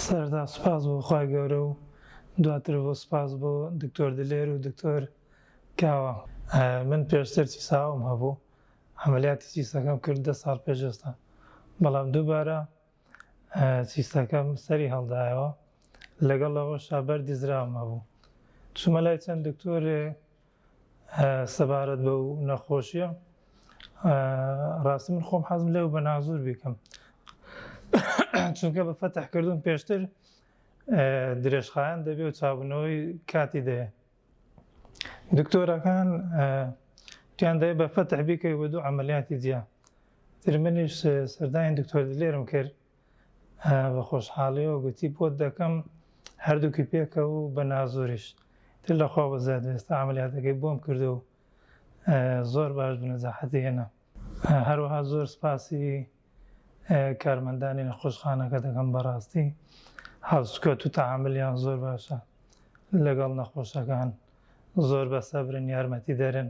سەرەتا سوپاس بۆ خوای گەورە و دواتر بۆ سوپاس بۆ دکتۆر دلێر و دکتۆر کاوە. من پێشتر چیساوم هەبوو عەمەلیاتی چیسەکەم کرد دە ساڵ پێش ئێستا بەڵام دووبارە چیسەکەم سەری هەڵدایەوە لەگەڵ ئەوەشا بەردی زراوم هەبوو چوومە لای چەند دکتۆرێ سەبارەت بەو نەخۆشیە ڕاستی من خۆم حەزم لێو بە نازور بیکەم چونکە بە فەتح کردوون پێشتر درێژخایەن دەبێ و چابوونەوەی کاتی دەیە دکتۆرەکان تیان دەێ بە فەتح بیکەی بە دوو ئەعملیاتی جیا ترمنیش سەردانی دکتۆر دلێرم کرد بە خۆشحاڵیەوە گوتی بۆت دەکەم هەردووکی پێکەوە و بە نازوریش تر لە خوا بەزیاد و ئێستا عەمەلیاتەکەی بۆم کردوە و زۆر باش بوو نەجاحەتی هێنا هەروەها زۆر سپاسی کارمەندانی نەخۆشخانەکە دەکەم بەڕاستی هەڵسوکەوت و تەعاملیان زۆر باشە لەگەڵ نەخۆشەکان زۆر بە سەبرن یارمەتی دەرن.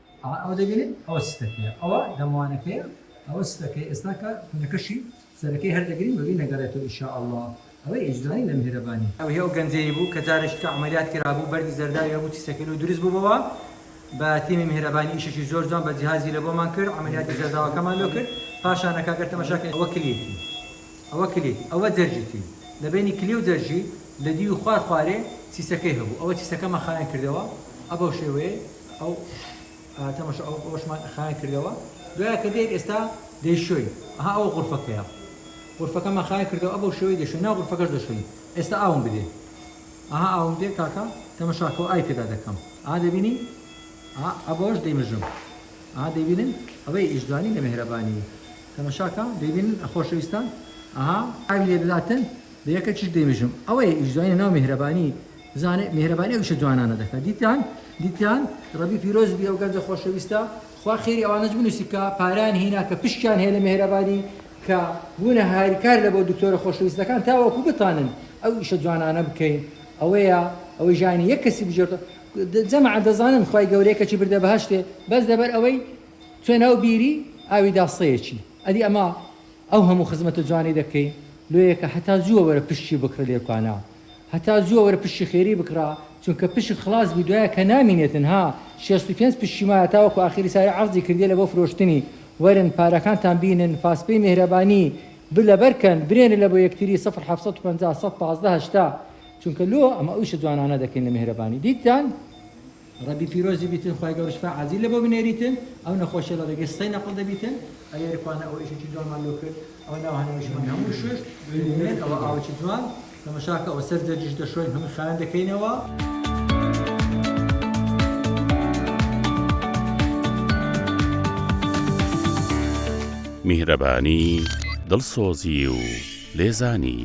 ئەها ئەوە دەبینن ئەوە ستەکەیە ئەوە دەموانەکەیە ئەوە ستەکەیە ئێستا کە کونەکەشی سەرەکەی هەر دەگرین بەبی نەگەڕێتەوە ان شاء اللە ئەوەی ئەیجزانی لە میهرەبانی. ئەوهی ئەو گەنجەی بوو کە جارێکی تر عەمەلیات کرابوو بەردی زەرداوی هەبوو تیسەکەی لۆ دروست بووبەوە بە تیمی میهرەبانی ئیشێکی زۆر جوان بە جیهازی لە بۆمان کرد عەمەلیاتی زەرداوەکەمان لۆ کرد پاشان کاکە تەماشا کەی ئەوە کلیتی ئەوە کلیت ئەوە جەرجیتی لە بەینی کلی و جەرجی لە دیوی خوار خوارێ تیسەکەی هەبوو ئەوە تیسەکەمان خاوێن کردەوە ئەبەو شێوەیەی ئەو تەمەشا ئەو ئەوەشمان خایان کردەوە دوای کە دێت ئێستا دەیشۆین ئەها ئەوە غرفەکەیە غرفەکەمان خایان کردەوە ئەبەو شێوەی دەشۆین نا غرفەکەش دەشۆین ئێستا ئاوم بدێ ئەها ئاوم دێ کاکە تەمەشاکەەوە ئای تێدا دەکەم ئا دەبینی ئەبەوەش دەیمژم ئا دەبینن ئەوەی ئیشجوانی لە مهرەبانی تەمەشاکە دەبینن خۆشەویستان ئەها ئاوی لێ دەداتن بە یەکە چش دەیمژم ئەوەی ئیشجوانی ناو مهرەبانی زانێ میهرەبانی ئەو ئیشە جوانانە دەکا دیتان دیتان ڕەبی پیرۆز بی ئەو گەنجە خۆشەویستە خوا خێری ئەوانەچ بنوسی کە پاریان هینا کە پشکیان هەیە لە میهرەبانی کە بونە هاریکار لە بۆ دکتۆرە خۆشەویستەکان تاوەکو بتانن ئەو ئیشە جوانانە بکەین ئەوەیە ئەوەی ژانی یەک کەسی بژێرتەوە جەماعەت دەزانن خوای گەورە یە کەچی بردە بەهەشتێ بەس لەبەر ئەوەی چوە ناو بیری ئاوی داسەیەچی ئەدی ئەمە ئەو هەموو خزمەتە جوانەی دەکەین لۆیەکە هەتا زووە وەرە پشکی بکڕە لێرکوانە. هەتا زووە وەرە پشکی خێری بکڕە چونکە پشک خڵاس بی دوایە کە نامینێتن ها شێست و پێنج پشکی مایە تاوەکو ئاخیری ساری عەرزی کردیە لە بۆ فرۆشتنی وەرن پارەکانتان بینن فاسپەی میهرەبانی بر لەبەر کەن برێنە لە بۆ یەکتری سفر حەفت سەد و پەنجا سەد پازدە هەشتا چونکە لۆ ئەمە ئویشە جوانانە دەکەین لە میهرەبانی دیتان ڕەبی پیرۆزی بیتن خوای گەورە شفا عاجیل لە بۆ بنێریتن ئەو نەخۆشیە لە ڕێگەی سسەی نەقڵ دەبیتن. ئەیەر کوانە ئەو ئیشەی جوانمان لۆ کرد ئەوە ناو هەناویشمان هەموو شوشت ببینن ئەوە ئاوە چ جوان تەمەشاکە ئەوە سەر جەرگیش دەشۆین هەمووی خاوێن دەکەینەوە. میهرەبانی دڵسۆزی و لێزانی.